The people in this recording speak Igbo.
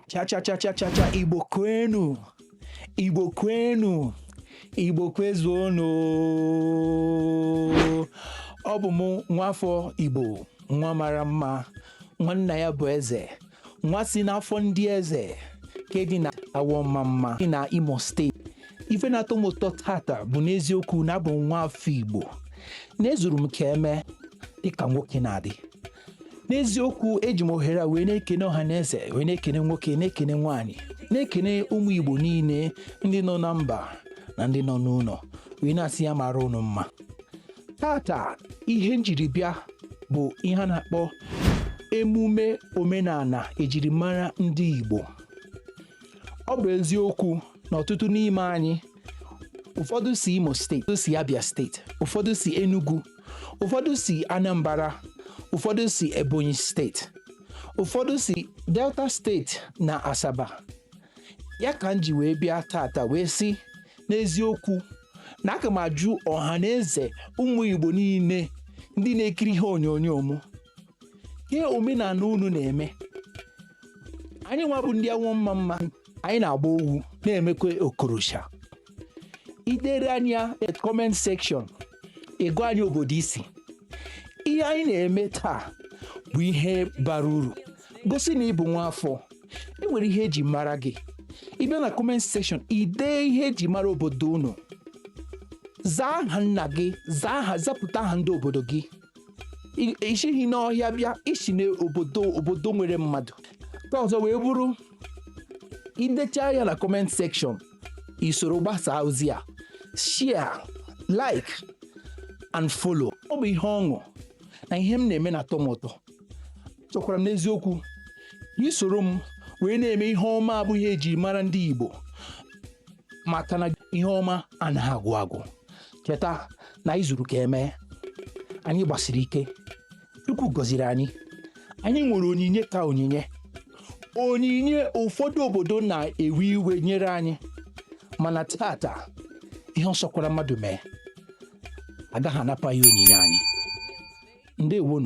cha cha cha cha cha cha igbo kwenu igbo kwenu igbo kwezuonu ọ bụ m nwafọ igbo nwa mara mma nwa nna ya bụ eze nwa si n'afọ ndị eze nke dị na awọ ọmamma dị na imo steeti ife na-atọ m ụtọ tata bụ n'eziokwu na abụ m nwa afọ igbo na ezuru m ka emee dịka nwoke na-adị n'eziokwu eji m ohere a wee na-ekene ọha na eze wee na-ekene nwoke na-ekene nwaanyị na-ekene ụmụ igbo niile ndị nọ na mba na ndị nọ n'ụlọ wee na-asị ya mara unu mma tata ihe m jiri bịa bụ ihe a na-akpọ emume omenala ejirimara ndị igbo ọ bụ eziokwu na ọtụtụ n'ime anyị ụfọdụ si imo steeti ụfọdụ si abia steeti ụfọdụ si enugu ụfọdụ si anambra ụfọdụ si ebonyi steeti ụfọdụ si delta steeti na asaba ya ka m ji wee bịa tata wee sị n'eziokwu na aga m ajụ ọha na eze ụmụ igbo niile ndị na-ekiri ihe onyonyo m ihe omenala unu na-eme anyị nwa bụ ndị awọ ọmamma anyị na-agba owu na-emekwa okorosha i dere anyị na comment section ị gwa anyị obodo i si ihe anyị na-eme taa bụ ihe bara uru gosi na ị bụ nwa afọ e nwere ihe eji mara gị ị bịa na comment section i dee ihe eji mara obodo unu zaa aha nna gị zaa aha zapụta aha ndị obodo gị I- i sighị n'ọhịa bịa i si n'obodo obodo nwere mmadụ ka ọzọ wee bụrụ i decha ya na comment section i soro gbasaa ozi a share like and follow ọ bụ ihe ọṅụ na ihe m na-eme na-atọ m ụtọ chọkwara m n'eziokwu na i soro m wee na-eme ihe ọma bụ ihe eji mara ndị Igbo maka na ihe ọma anaghị agwụ agwụ cheta na anyị zuru ka emee anyị gbasiri ike Chukwu gọziri anyị anyị nwere onyinye ka onyinye onyinye ụfọdụ obodo na-ewe iwe e nyere anyị mana tata ihe ọ sọkwara mmadụ mee agaghị anapụ anyị onyinye anyị ndewonu